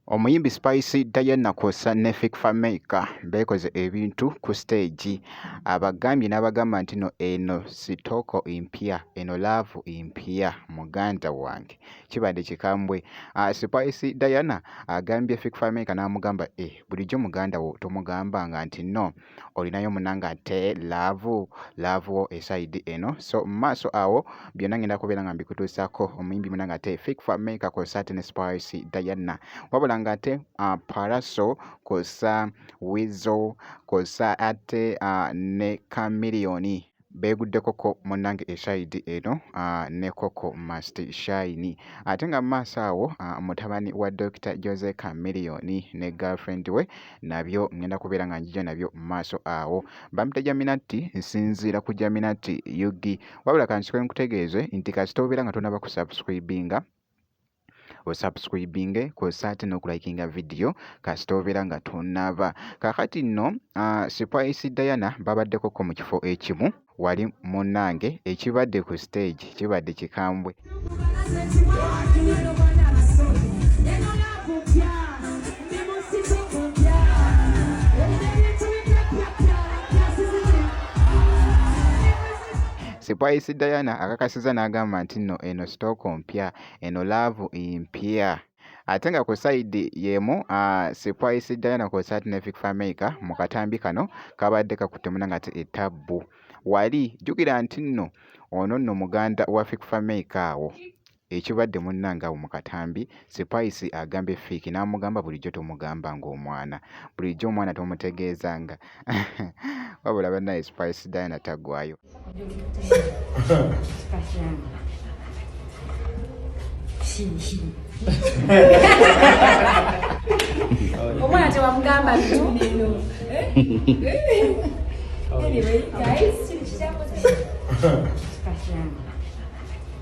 Omuyimbi Spice Diana kwossa ne Fik Fameica beekoze ebintu ku siteegi abagambye n'abagamba nti no eno sitooko mpya eno laavu mpya muganda wange kibadde kikambwe. Ah, Spice Diana agambye Fik Fameica n'amugamba eh, bulijjo muganda wo tomugamba nga nti no olinayo munanga ate laavu laavu wo esaidi eno so maaso awo byonna ngenda kubeera nga mbikutuusako omuyimbi munanga ate fik fame kakosa ten spice diana wabula nga ate uh, paraso kosa wizo kosa ate uh, ne kamiliyoni beeguddekoko munnange esayidi eno ah, ne koko must shine ate nga mumaaso awo ah, mutabani wa dokita jose camiliyoni ne girlfriend we nabyo ngenda kubeera nga njija nabyo mumaaso awo bampita jaminatti nsinziira ku jaminatti yugi wabula kansikoe nkutegeeze nti kasita obeera nga tonaba kusubscribinga osubscribinge kwosa ate n'okulayikinga vidiyo kasita obeera nga tonnaaba kaakati nno uh, spice diana babaddekoko mu kifo ekimu wali munnange ekibadde ku stage kibadde kikambwe Spice Diana akakasiza n'agamba nti nno eno sitooko mpya eno laavu mpya ate nga ku sayidi y'emu Spice Diana kwossa ati ne Vic Fameica mu katambi kano kabadde kakutte muna ngate etabbu wali jjukira nti nno ono nno muganda wa Vic Fameica awo ekibadde munnange awo mu katambi Spice agambye Vic n'amugamba bulijjo tomugamba ng'omwana bulijjo omwana tomutegeezanga wabula banaye spice diana tagwayo omwana tewamugamba ntuneeno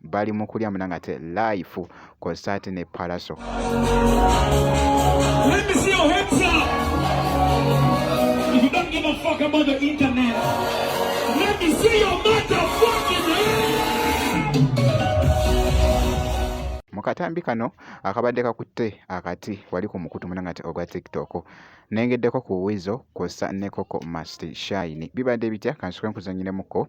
bali mu kulya muna nga te life kw'ossa ate ne palaso mu katambi kano akabadde kakutte akati wali ku mukutu muna nga te ogwa tiktok nengeddeko ku wizo kw'ossa ne koko mast shine bibadde bitya kansikwe nkuzanyiremuko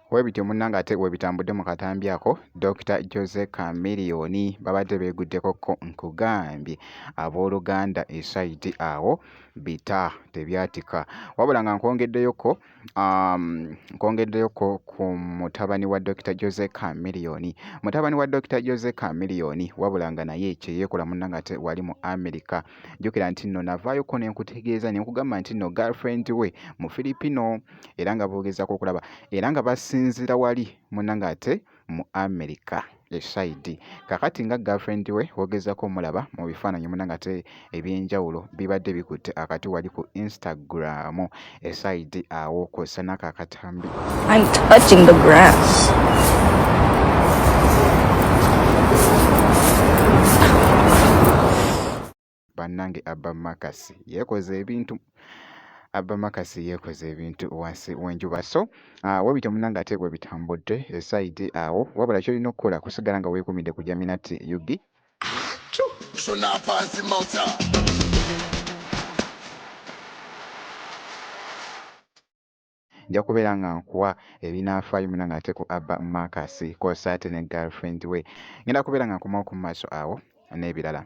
Webityo munnange ate webitambudde mu katambi ako Dokita Jose Chameleon babadde beeguddeko ko nkugambye abooluganda esayidi awo bita tebyatika wabula nga nkwongeddeyoko um, nkwongeddeyoko ku mutabani wa Dokita Jose Chameleon mutabani wa Dokita Jose Chameleon wabula nga naye kyeyeekola munnange ate wali mu Amerika jjukira nti nno navaayoko ne nkutegeeza ne nkugamba nti nno girlfriend we mu filipino era nga boogezaako okulaba era nga basinzira wali muna ng'ate mu america esaidi kakati nga girlfriend we wogezako omulaba mu bifaananyi muna ngate ebyenjawulo bibadde bikutte akati wali ku instagram esayidi awo kw'ossa n'ako akatambi bannange abba makasi yeekoze ebintu abba makasi yeekoze ebintu wansi w'enjuba so ah, webityo munange ate bwe bitambudde esayidi awo wabula kyolina okukola kusigala nga weekumidde ku jaminati ug nja kubeera nga nkuwa ebinaafaayo munange ate ku abba marcus kosa ate ne girlfriend we ngenda kubeera nga nkomawo ku maaso awo n'ebirala